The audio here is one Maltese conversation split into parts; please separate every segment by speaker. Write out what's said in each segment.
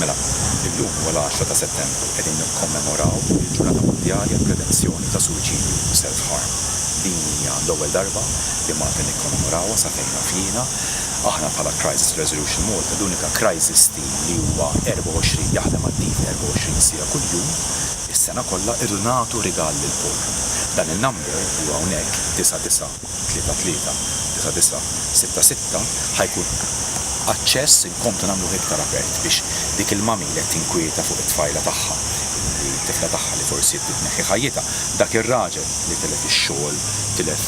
Speaker 1: Mela, illum huwa l-għaxra ta' Settembru u qegħdin nikkommemoraw il-Ġurnata Mondjali għall-Prevenzjoni ta' Suwiċidju u Self Harm. Din hija l-ewwel darba li Malta nikkomemorawha sa fejn naf jiena. Aħna bħala Crisis Resolution Malta l-unika crisis team li huwa 24 jaħdem attiv 24 siegħa kuljum is-sena kollha irridu nagħtu rigal lill-poor. Dan in-number li hu hawnhekk, 99, tlieta tlieta, disa' disa', sitta sitta, ħa jkun aċċess inkomplu nagħmluh iktar apert biex dik il-mami li qed tinkwieta fuq it-tfajla tagħha, li t-tifla tagħha li forsi bdiet tneħħi ħajjitha, dak ir-raġel li tilef ix-xogħol, tilef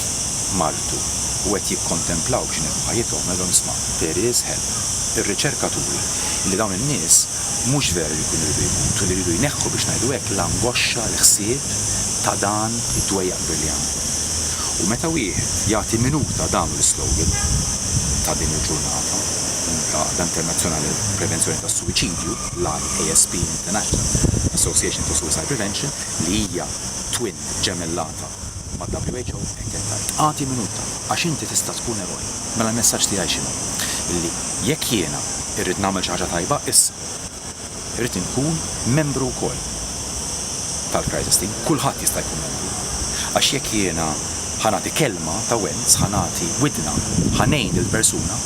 Speaker 1: martu u qed jikkontemplaw biex ineħħu ħajjithom, ngħidilhom isma' there is help. Ir-riċerka turi li dawn in-nies mhux vera li jkunu jridu jmutu, li jridu jneħħu biex ngħidu hekk l-angoxxa, l-ħsieb ta' dan id-dwejjaq kbir li għandhom. U meta wieħed jagħti minuta dan l-islogan ta' din il-ġurnata, l-Għaqda Internazzjonali għall-Prevenzjoni tas-Suwiċidju, l-IASP International Association for Suicide Prevention, li hija twin, ġemellata, mal-WHO, hekk qed tgħid, Agħti minuta, għax inti tista' tkun eroj. Mela l-messaġġ tiegħi x'inhu? Illi jekk jiena irrid nagħmel xi ħaġa tajba, issa. Irrid inkun membru wkoll tal-Crisis Team, kulħadd jista' jkun membru, għax jekk jiena ħa nagħti kelma ta' wens, ħa nagħti widna, ħa ngħin lill-persuna,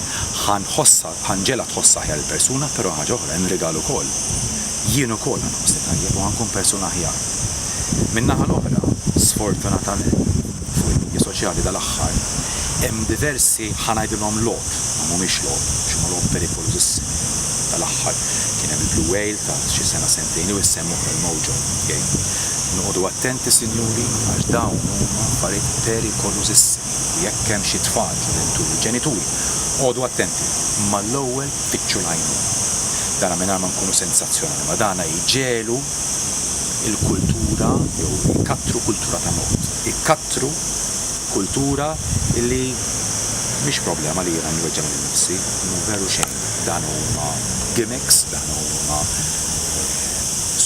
Speaker 1: ħa nħossha, ħa nġegħlha tħoss aħjar il-persuna, però ħaġa oħra, hemm rigal ukoll. Jien ukoll ħa nħossni tajjeb u ħa nkun persuna aħjar. Min-naħa l-oħra, sfortunatament, fuq il-midja soċjali dal-aħħar hemm diversi ħa ngħidilhom logħob, ma mhumiex logħob għax huma logħob perikolużissimi. Dal-aħħar kien hemm il-Blue Whale ta' xi sena sentejn ilu jsemma wkoll il-Mojo Game. Noqogħdu attenti sinjuri għax dawn huma affarijiet perikolużissimi u jekk hemm xi tfal, ġuventuri, ġenituri, oqogħdu attenti, imma l-ewwel fittxu l-għajnuna. Dana mingħajr ma nkunu sensazzjonali, ma dana jġegħlu il-kultura jew ikattru kultura ta' mod. Ikattru kultura li mhix problema li jiena nweġġa' lil nifsi, mhu veru xejn. Dan huma gimmicks, dan huma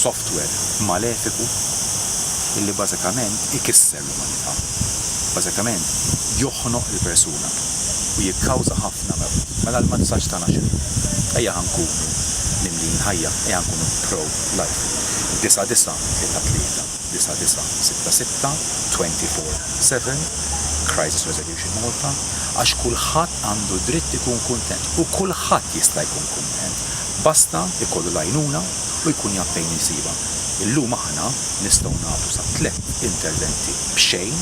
Speaker 1: software malefiku li bażikament ikisser l-umanità. Bażikament joħnoq il-persuna u jikkawża ħafna mewt. Mela l-messaġġ tagħna x'inhu? Ejja ħa nkunu mimlijin ħajja, ejja nkunu pro Live. 9933996624 Crisis Resolution Malta Għax kulħadd għandu dritt ikun kuntent u kulħadd jista' jkun kuntent basta jkollu l-għajnuna u jkun jaf fejn isibha. Illum aħna nistgħu nagħtu sa tliet interventi b'xejn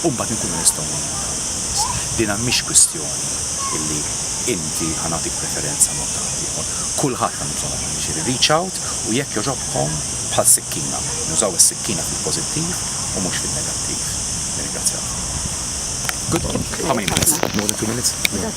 Speaker 1: u mbagħad inkunu nistgħu ngħinu lil dawn in-nies. Dina mhix kwistjoni illi inti ħa nagħtik preferenza mod ta' ħaddieħor. Kulħadd għandu bżonn għajnuna. Jiġifieri reach out u jekk jogħġobkom bħal sikkina, nużaw is-sikkina fil-pożittiv u mhux fin-negattiv. Nirringrazzjakom. Good luck. How many minutes? More than two minutes?